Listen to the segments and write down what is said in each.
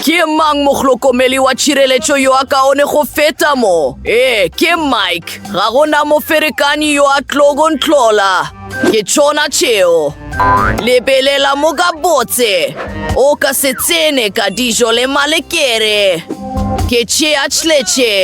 Ke mang mohlokomeli wa tšhireletšo yo a kaone go feta mo? Ee, ke Mike. Ga go na moferekanyi yo a tlogo ntlola. Ke tšona tšeo. Lebelela mo ka botse. O ka se tsene ka dijo le malekere. Ke tšea tšletše.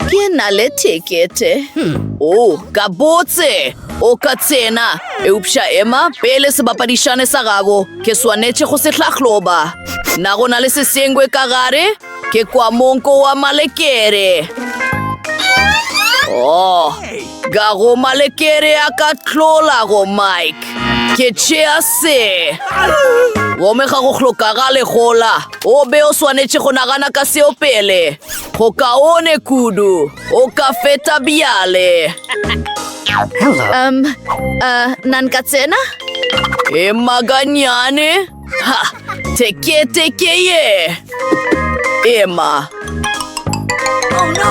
Ke na le tekete. Hmm. O, oh, ka botse. O ka tsena. Eupša ema pele sebapadišane sa gago. Ke swanetše go se hlahloba. Na go na le sesengwe ka gare? Ke kwa monko wa malekere. Oh, Ka go malekere a ka tlola go Mike. Ke tšea se. Gomme ga go hlokagale gola. O be o swanetše go nagana ka seo pele. Go kaone kudu. O ka feta bjale. Um, uh, nan ka tsena? E maganyane? Ha! Teketeke ye! Ema!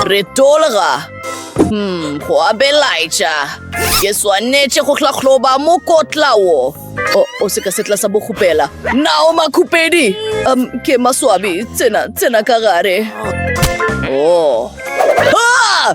Re tolga! Hmm, go a belaetša. Ke swanetše go hlahloba mokotla wo. O, o se ka setla sa bokgopela. Nao makhupedi! Um, ke maswabi, tsena, tsena ka gare. Oh. Ah!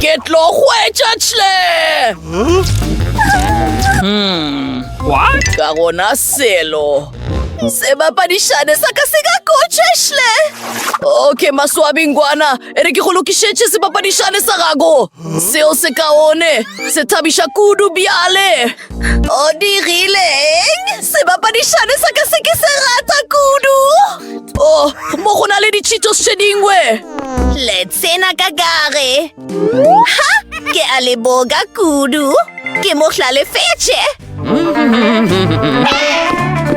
ke tlo hwetša tle hmm. ka gona selo sebapadišane sa ka se ka kotšešle okay maswabingwana e re ke go lokišetše sebapadišane sa gago seo se kaone se thabiša kudu bjale o dirileng sebapadišane sa ka se ke se rata kudu o oh, mo go na le ditšhitho se dingwe Sena ka gare. Ha! Ke a le boga kudu. Ke mo hlalefetše.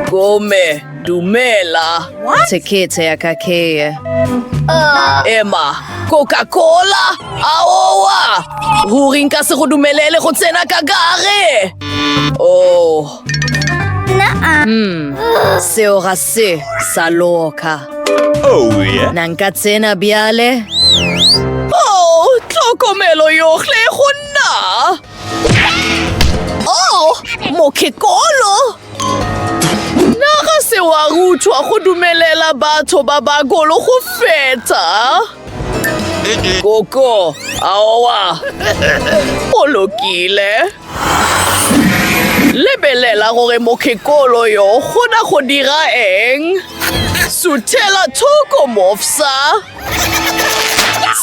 Gome, dumela. Tekete ya ka ke ye. Emma, Coca-Cola? Aowa! Ruri nka se go dumelele go tsena ka gare. Oh. Hmm, seo ga se sa loka. Oh, yeah. Na nka tsena bjale? Oh, tlhokomelo yohle go nna. Oh, mokekolo. Na ga se wa ruthwa go dumelela batho ba ba golo go feta? Koko, aowa. O lokile. Lebelela gore mokgekolo yo kgona go dira eng. Suthela thoko mofsa.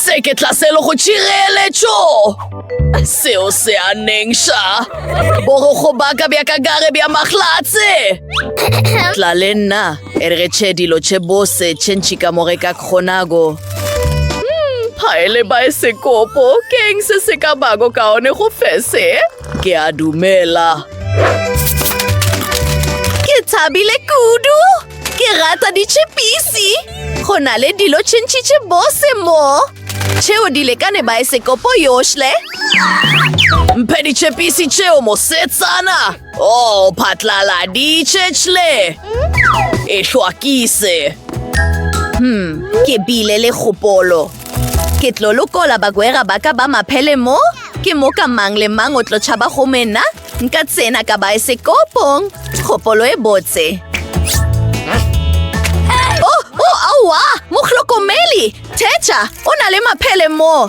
Se ke tlaselo go tšireletšo. Seo se a nengša. Borogo baka bja kagare bja maglatse. Tla le nna. E re ge tše dilo tše bose tše ntši ka mo ge ka kgonago. Phaele hmm, baesekopo, ke eng se se ka bako kaone go fese? Ke a dumela. Ke thabile kudu. Ke rata ditšhepisi. Go na le dilo tše ntši tše bose mo. Tšeo di lekane baesekopo yohle. Mphe ditšhepisi tšeo mosetsana. Oh, phatlaladitše tšhle. E hlwakise. Hmm, ke bile le kgopolo. Ke tlo lokola bagwera ba ka ba maphele mo? Ke mo ka mang le mang o tlo tšhaba go mena? Nka tsena ka baesekopong. Kgopolo e botse. Oh, oh, aowa! Mohlokomeli! Thetša, o na le maphele mo.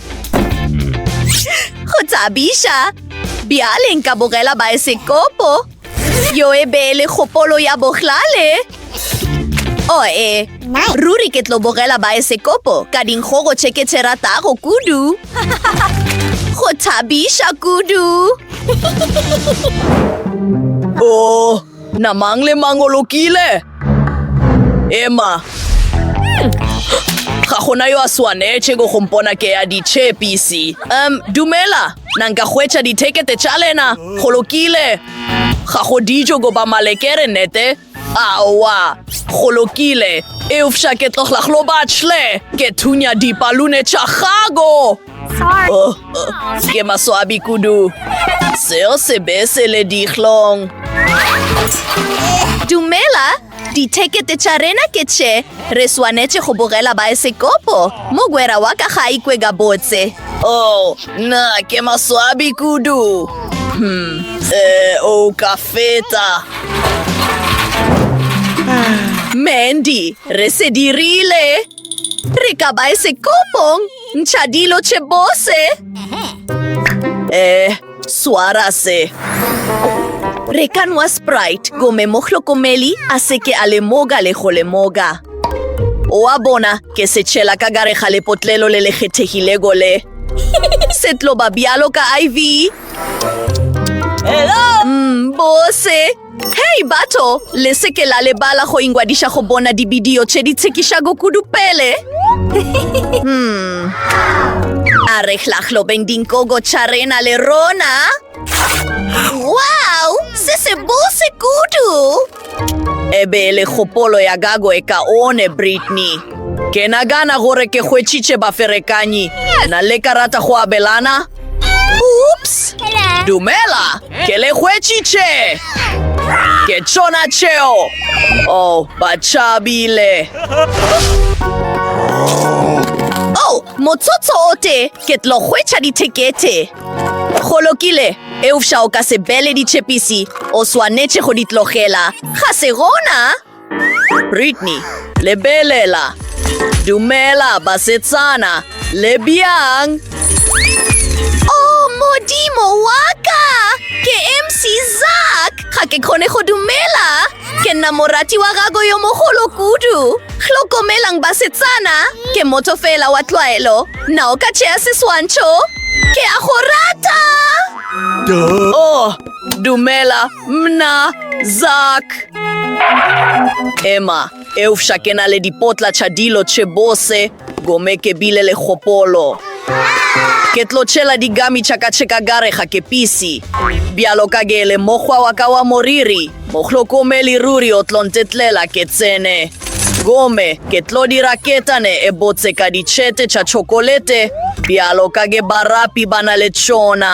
Go thabiša! Bjale nka bogela baesekopo. Yo e be le kgopolo ya bohlale. O oh, e, ruri ke tlo bogela baesekopo ka dinkgogo tše ke tše ratago kudu. Go thabiša kudu! O! Oh. Na mang le mang o lokile? Ema. Ga gona yo a swanetše go gompona ke ya ditšhepisi. Um, dumela, na nka hwetša dithekete tša lena? Go lokile. Ga go dijo goba malekere, nete? Aowa, go lokile. Eufša ke tlogla glo batšhle, ke thunya dipalune tša gago. Oh, oh, ke maswabi kudu. Seo se be se le dihlong. Dumela, dithekete tša rena ke tše re swanetše go bogela baesekopo mogwera wa ka ga a ikwe ka botse o oh, na ke maswabi kudu hmm e o ka feta mandy re se dirile Re ka ba e sekomong, ntšha dilo tše bose. Eh, swara se. Re ka nwa Sprite, gome mo hlokomeli a se ke a lemoga le go lemoga. Oa bona, ke se tšhela ka gare ga lepotlelo le le kgethegilego le. Se tlo ba bjalo ka IV. Hello? Mm, bose. Hei batho, le se ke la lebala go ingwadiša go bona dibidio tše di tshekišago kudu pele. hmm. A re hlahlobeng dinkogo tša rena le rona. Wow, se se bose kudu! E be e le kgopolo ya gago e ka one, Brittany. Ke nagana gore ke hwetšitše baferekanyi. Na le ka rata go abelana? Oops! Dumela, ke le hwetšitše. Ke tšona tšeo. Oh, ba tšabile. Oh, motsotso o te, ke tlo hwetša dithekete. Go lokile, eufša o ka se bele ditšhepisi. O swanetše go di tlogela. Ga se gona. Brittany, Lebelela! Dumela, basetsana! Le bjang? Oh, Modimo wa ka! Ke MC Zak! Ga ke kgone go dumela! Ke nna morati wa gago yo mogolo kudu! Hlokomelang basetsana! Ke motho fela wa tlwaelo! Na o ka tšea seswantšho? Ke a go rata! Oh, dumela! Mna, Zak! Emma, eufša ke na le dipotla tša dilo tše bose, gome ke bile le kgopolo. Ke tlo tšhela digami tša ka tše ka gare ga kepisi. Bjalo ka ge le mokgwa wa ka wa moriri, mohlokomeli ruri o tlo ntetlela ke tsene. Gome, ke tlo dira ketane e botse ka ditšhete tša tšhokolete, bjalo ka ge barapi ba na le tšona.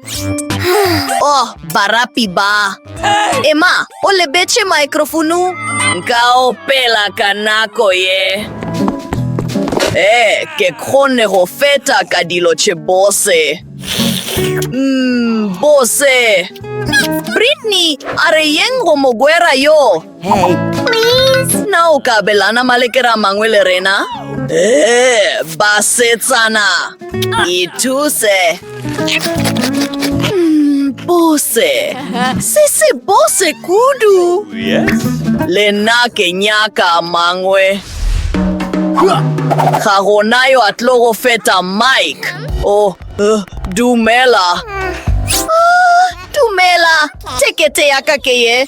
oh barapi ba ema o lebetše microfonu nka opela ka nako ye ee ke kgone go feta ka dilo tše bose mm, bose britney a re yeng go mogwera yo Hey, please, na o ka abelana malekera a mangwe le rena? Ee, basetsana, ithuse. Mm, Bose, se se bose kudu. Le nna ke nyaka a mangwe. Ga gona yo a tlo go feta Mike. O, eh, dumela. Ah, Dumela, tekete ya ka ke ye.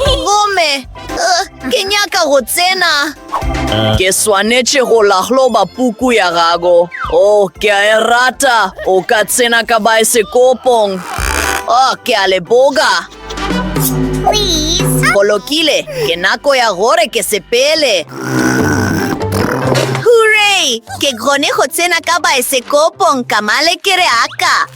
Gomme uh, ke nyaka go tsena. Ke swanetše go lahloba puku ya gago. O, oh, ke a e rata. O ka tsena ka baesekopong. O, oh, ke a le boga. Bolokile, ke nako ya gore ke sepele. Hooray! Ke gone go tsena ka baesekopong ka malekereaka.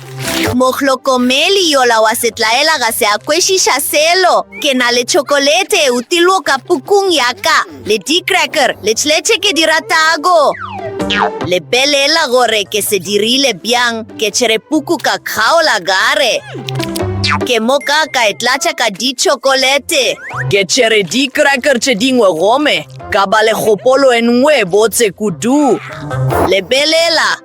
Mohlokomeli yola wa setlaela ga se a kwešiša selo. Ke na le tšhokolete e utilwo ka pukung ya ka, le di-cracker, le tšletše ke di ratago. Lebelela gore ke se dirile bjang, ke tšere puku ka kgaola gare. Ke mo ka ka e tlatša ka ditšhokolete. Ke tšere di-cracker tše dingwe gome, ka ba le kgopolo e nngwe e botse kudu. Lebelela,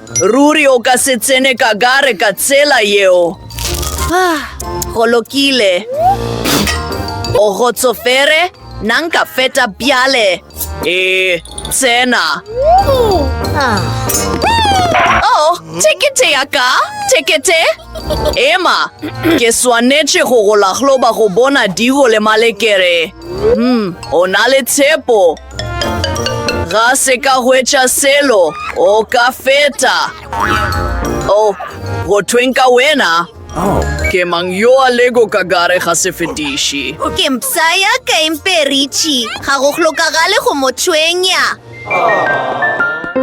Ruri o ka se tsene ka gare ka tsela yeo. Ah, go lokile. O gotsofere, na nka feta bjale? Ee, tsena. Oh, tekete ya ka, tekete. Ema, ke swanetše go go lahloba go bona digo le malekere. Hmm, o na le tshepo. Ga se ka hwetša selo, o ka feta. O, oh, go thweng ka wena? Oh. Ke mang yo a lego ka gare ga sefetiši? Ke mpsa ya ka emperitši, ga go hlokagale go mo tshwenya.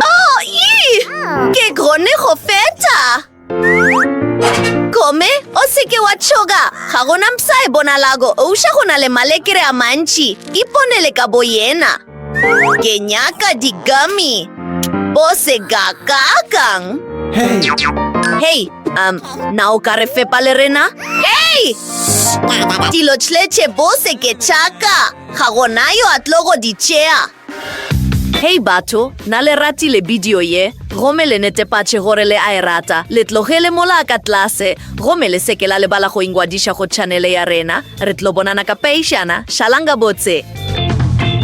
Oh, ii! Ke gone go feta! Gomme o seke wa tšhoga, ga gona mpsa e bonalago ouša go na le malekere a mantši. Iponele ka bo yena. Ke nyaka digami. Bo se kakakang. Hei, hei, um, na o ka re fepa le rena? Hei! Dilo tšletše bo se ke tšaka. Ga gona yo a tlo go di tšea. Hei batho, na le ratile bidio ye? Gomme le netepatše gore le a e rata, le tlogele mola ka tlase. Gomme le se ke la lebala go ingwadiša go tšhanele ya rena. Re tlo bonana ka peišana. Šalang gabotse!